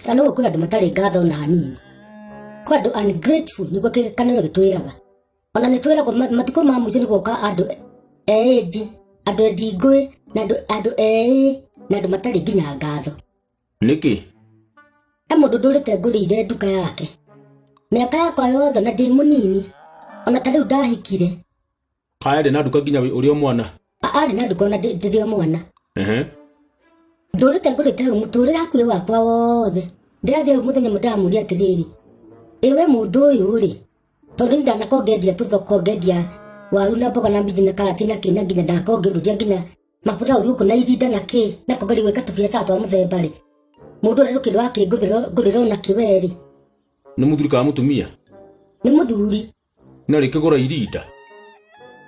kana ũguo kwĩ andũ matarĩ ngatho na hanini kwĩ andũ ungrateful nĩguo kĩgekanĩro gĩtwĩraga ona nĩ twĩragwo ma- matukũ ma mũico nĩ gũka andũ eĩndi andũ endingũĩ na andũ- andũ eĩ na andũ matarĩ nginya ngatho nĩkĩ he mũndũ ndũrĩte ngũrĩire nduka yake mĩaka yakwa yothe na ndĩ mũnini ona ta rĩu ndahikire arĩ na nduka nginya ũrĩ o mwana arĩ na nduka ona ndĩ- ndĩrĩ o mwana Ehe. ndũrĩte ngũrĩte hau mũtũrĩre hakuhĩ wakwa wothe ndĩrathiĩ hau mũthenya mwe ndamũria atĩrĩrĩ ĩwe mũndũ ũyũ rĩ tondũ ndanakoo ngendia tũthoko ngendia waru na mboga na minji na karati na kĩ na nginya ndakoo ngĩũrũria nginya mabuta ũthiũ kũ na irinda na kĩ na kongeri gwĩka tũbiacara twa mũthemba rĩ mũndũ ũrĩa rũkĩrĩ wake ngũrĩra ona kĩwe rĩ nĩ mũthuri kana mũtumia nĩ mũthuri na rä kä gå ra irinda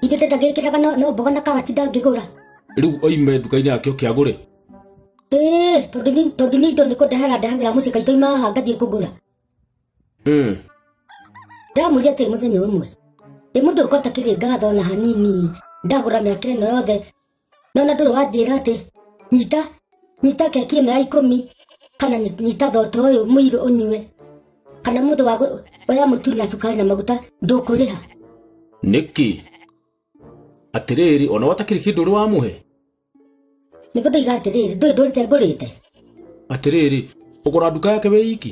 Ithe ndenda ngĩkĩraga no, no mboga na karati ndangĩgũra. rä u oime nduka-inä yake å kä agå rä Ĩĩ, tondũ ni- tondũ nĩ indo nĩ kũndehera ndehagĩra mũciĩ kaitũ ima haha ngathiĩ kũgũra. Ndamwĩria atĩ mũthenya ũmwe. Ĩ mũndũ ũkota kĩrĩ ngatho na hanini ndagũra mĩaka ĩno yothe nona ndũrĩ wanjĩra atĩ nyita nyita keki ĩno ya ikũmi kana nyi- nyita thoto ũyũ mũirũ ũnyue kana mũndũ wa gũ- oya mũtu na cukari na maguta ndũkũrĩha nĩkĩ atĩrĩrĩ ona watakĩrĩ kĩndũ ũrĩ wamũhe nĩguo ndoiga atĩrĩrĩ ndũĩ ndũrĩte ngũrĩte atĩrĩrĩ ũgũra nduka yake wĩ iki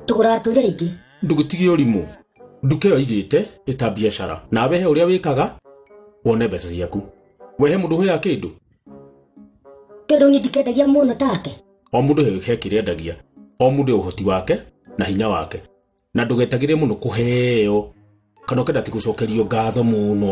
tũgũraga tũire rĩngĩ ndũgĩtige ũrimũ nduka ĩyo igĩte ĩta biacara na wehe ũrĩa wĩkaga wone mbeca ciaku wehe mũndũ hũyaga kĩndũ tondũ niĩ ndikendagia mũno take o mũndũ he- he kĩrĩa endagia o mũndũ he ũhoti wake na hinya wake na ndũgetagĩrĩre mũno kũheo kana ũkenda ti gũcokerio ngatho mũno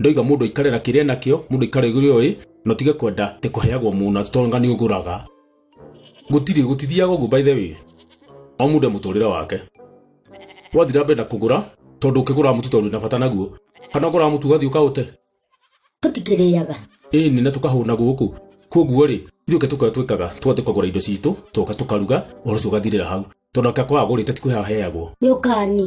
ndoiga mũndũ aikare na kĩrĩa nakĩo mũndũ aikare gũrĩa ũĩ na ũtige kwenda atĩ kũheagwo mũna tonga nĩ ũgũraga gũtirĩ gũtithiaga ũguo by the way o mũndũ e mũtũrĩre wake wathira mbere na kũgũra tondũ ũkĩgũra mũtu tondũ na bata naguo kana ũgũra mũtu ũgathiĩ ũkaũte tũtikĩrĩaga ĩni na tũkahũna gũkũ koguo rĩ ithuĩ tũkoya twĩkaga tũgathiĩ kũgũra indo citũ tũka tũkaruga ũhoro ũcio ũgathirĩra hau tondũ aka kwaga gũrĩte ti kwĩhaheagwo nĩ ũkani